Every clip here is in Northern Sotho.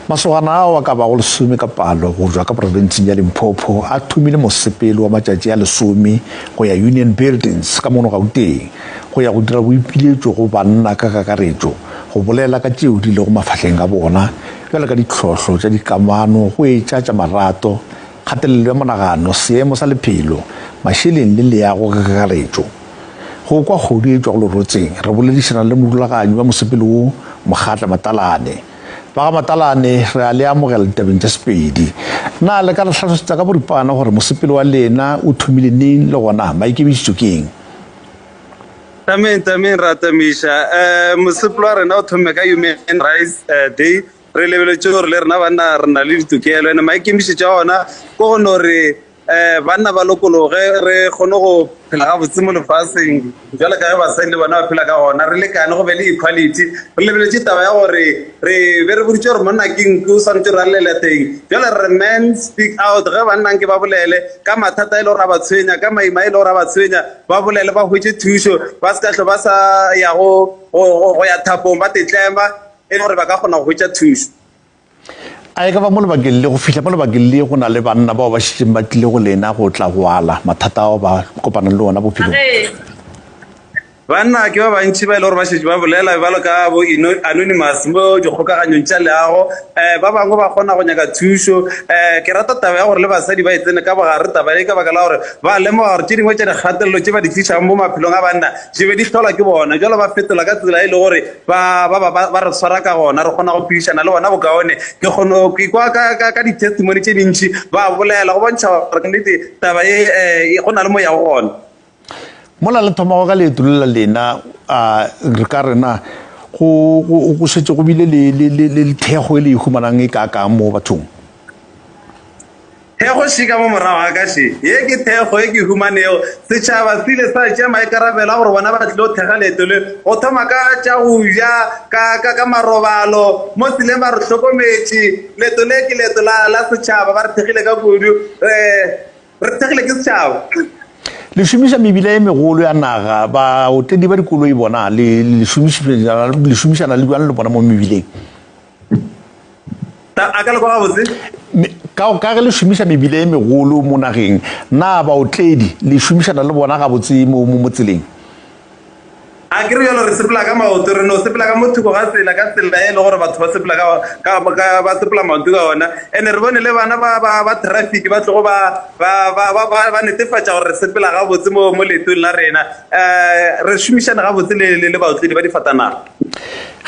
Masogana ao a ka bago lesome ka palo go tšwa ka profenseng ya Limpopo a thomile mosepelo wa matšatši a lesome go ya Union Buildings ka mono Gauteng go ya go dira boipiletšo go banna ka kakaretšo go bolela ka tšeo di lego mafahleng a bona bjalo ka dihlohlo tša dikamano go etša tša marato kgatelelo ya monagano, seemo sa lephelo, mašeleng le leago ge kakaretšo. Go kwa kgodu e tšwa go lerotseng, re boledišana le morulaganyi wa mosepele wo, Mogatla Matalane. Ba ga Matalane re a le amogela ditabeng tša Sepedi. Na le ka re hlalosetsa ka boripana gore mosepele wa lena o thomile neng le gona maikemišetšo ke eng? Tameng, Tameng, re a tamiša. Mosepele wa rena o thomme ka Human Rights Day re lebeletše gore le rena banna re na le ditokelo ene maikemišetšo a ona ke go no re um banna ba lokologe re kgone go phela gabotse mo lefaseng jalo ka ge basadi le bona ba phela ka gona re lekane go be le equality re lebeletše taba ya gore re be re boditše gore monna ke nku o swanetse re alele teng jalo re men speak out ge bannang ke ba bolele ka mathata e le gore a ba tshwenya ka maima e le gore a ba tshwenya ba bolele ba hwetše thušo ba se ka tlho ba sa ya go ya thapong ba tetlema e le gore ba ka kgona go hwetša thušo a e ka ba mo lebakeng le go fihla mo lebakeng le go na le banna bao ba šetšeng ba tlile go lena go tla go ala mathata ao ba kopanang le ona bophelong banna ke ba bantši ba e le gore ba šetše ba bolela bjalo ka bo anonymous mo dikgokaganyong tša leago um ba bangwe ba kgona go nyaka thušo um ke rata taba ya gore le basadi ba e tsene ka bogare taba e ka baka la gore ba lemoga gore tše dingwe tša dikgatelelo tše ba di tlišang mo maphelong a banna di be di tlholwa ke bona jalo ba fetola ka tsela e le gore ba ba ba ba re tshwara ka gona re kgona go phedišana le bona bokaone ke kgone ke kwa ka ka ka di-testimony tše dintši ba bolela go bontšha gore nnete taba e eh, go na le moya go gona mola le thomago ka leeto le la lena a re ka rena go go setse go bile le le le le thego e le e humanang e ka ka mo bathong Thekgo še ka mo morago ga ka še. Ye ke thekgo e ke humanego. Setšhaba se ile sa tšea maikarabelo a gore bona ba tlilo thekga leeto le, go thoma ka tša go ja, ka, ka, ka marobalo, mo tseleng ba re hlokometše. Leeto le ke leeto la, la setšhaba. Ba re thekgile ka kudu. Re, re thekgile ke setšhaba. Le šomiša mebila ye megolo ya naga. Baotledi ba dikoloi bona, le, le šomišana, le šomišana le bjang le bona mo mebileng? a ka le kwa gabotse ka ka ge le šomiša mebile e megolo mo nageng na baotledi le šomišana le bona gabotse mo mo tseleng a ke re yalo re sepela ka maoto re no sepela ka mothoko ga tsela ka tsela e le gore batho ba sepela ka ba sepela maoto ka ona and re bone le bana ba ba ba traffic ba tlogo ba ba ba ba ba netefatša gore re sepela gabotse mo mo leetong la rena um re šomišana gabotse le le le baotledi ba difatanaga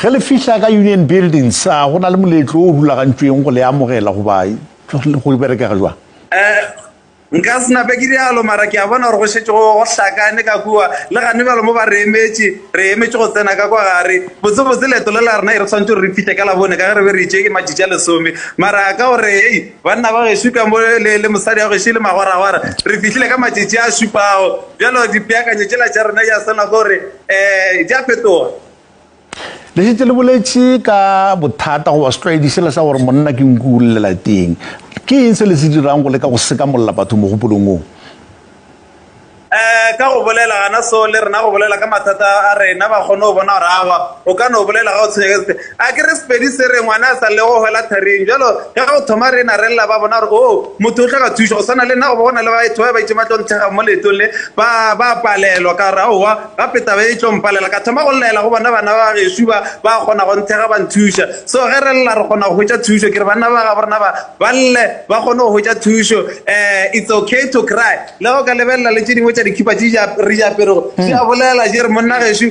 Ge le fihla ka Union Buildings, a go na le moletlo o rulagantšweng go le amogela goba go berekega jwang? Nka se nape ke rialo, mara ke a bona gore go šetše go hlakane ka kua, le gane bjalo mo ba re emetše. Re emetše go tsena ka kwa gare. Botsebotse leeto le la rena e re swanetše gore re fihle ka Labone ka ge re be re itše e matšatši a lesome. Mara ka gore hei, banna ba gešo ka mo le, le mosadi wa gešo e le magwaragwara, re fihlile ka matšatši a šupago. Bjalo dipeakanyo tšela tša rena ya swana ke gore um di a fetoga le šetse le boletše ka bothata goba setlwaedi sela sa gore monna ke nku o llela teng ke eng se le se dirang go leka go sekamolola batho mogopolong oo eh ka go bolela gana so le rena go bolela ka mathata a rena ba kgone go bona gore awa o ka no bolela ga o tshwenyegetse A ke re Sepedi se re, Ngwana a sa lego go hwela tharing. Bjalo ge go thoma re ena re lla, ba bona gore, oo, motho o hloka thušo. Go swana le nna, goba go na le batho ba bantši ba tlo nthekga mo leetong le, ba, ba a palelwa. Ka re, Aowa, gape taba ye e tlo mpalela. Ka thoma go llaela go bona bana ba gešo ba ba kgona go nthekga, ba nthuša. So, ge re lla, re kgona go hwetša thušo. Ke re banna ba gabo rena ba, ba lle, ba kgone go hwetša thušo. Um, it's okay to cry. Le ge o ka lebelela le tše dingwe tša dikhipa tše re di aperego, di a bolela, di re, Monna gešo,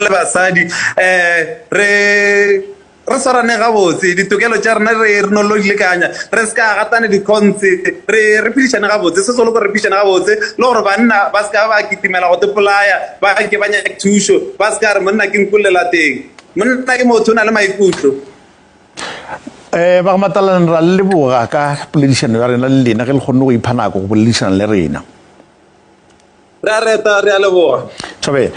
le basadi um re re swarane gabotse ditokelo tša rena re re no lo di lekanya re se ka gatane dikgontse re re phedišane gabotse se solo ko re phedišane gabotse le gore banna ba se ka ba kitimela go tepolaya ba ke ba nyake thušo ba se ka re monna ke nkulela teng monna ke motho o na le maikutlo um ba matalane ra leboga ka poledišano ya rena le lena ge le kgonne go ipha nako go boledišana le rena re a reta re a leboga thabela